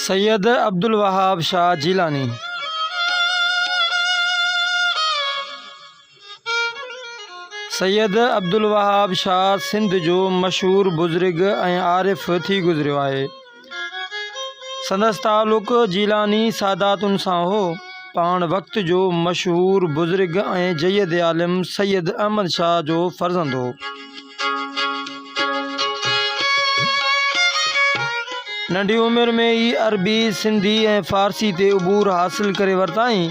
سيد عبدالوهاب شاهه جيلاني سيد عبدالوهاب شاهه سنڌ جو مشهور بزرگ ۽ عارف ٿي گذريو آهي سندس تعلق جيلاني ساداتن سان هو. پاڻ وقت جو مشهور بزرگ ۽ جيد عالم سيد احمد شاهه جو فرزند هو. ننڍي عمر ۾ ئي عربي، سنڌي ۽ فارسي تي عبور حاصل ڪري ورتائين.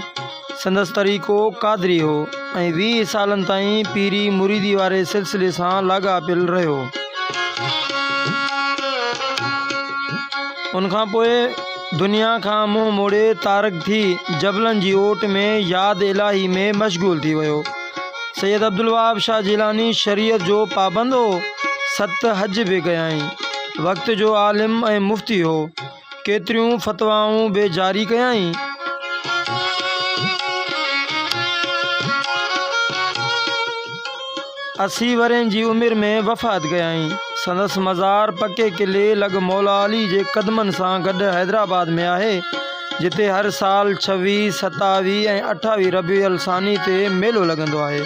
سندس طريقو قادري هو ۽ ويهه سالن تائين پيري مريدي واري سلسلي سان لاڳاپيل رهيو. ان کان پوء دنيا کان منهن موڙي تارڪ ٿي جبلن جي اوٽ ۾ ياد الاهي ۾ مشغول ٿي ويو. سيد عبدالوهاب شاهه جيلاني شريعت جو پابند هو، ست حج به ڪيائين. وقت جو عالم ۽ مفتي هو. ڪيتريون فتوائون به جاري ڪيائين. اسي ورهين جي عمر ۾ وفات ڪيائين. سندس مزار پڪي قلعي لڳ مولا علي جي قدمن سان گڏ حيدرآباد ۾ آهي، جتي هر سال ڇويهه، ستاويهه ۽ اٺاويهه ربيع الثاني تي ميلو لڳندو آهي.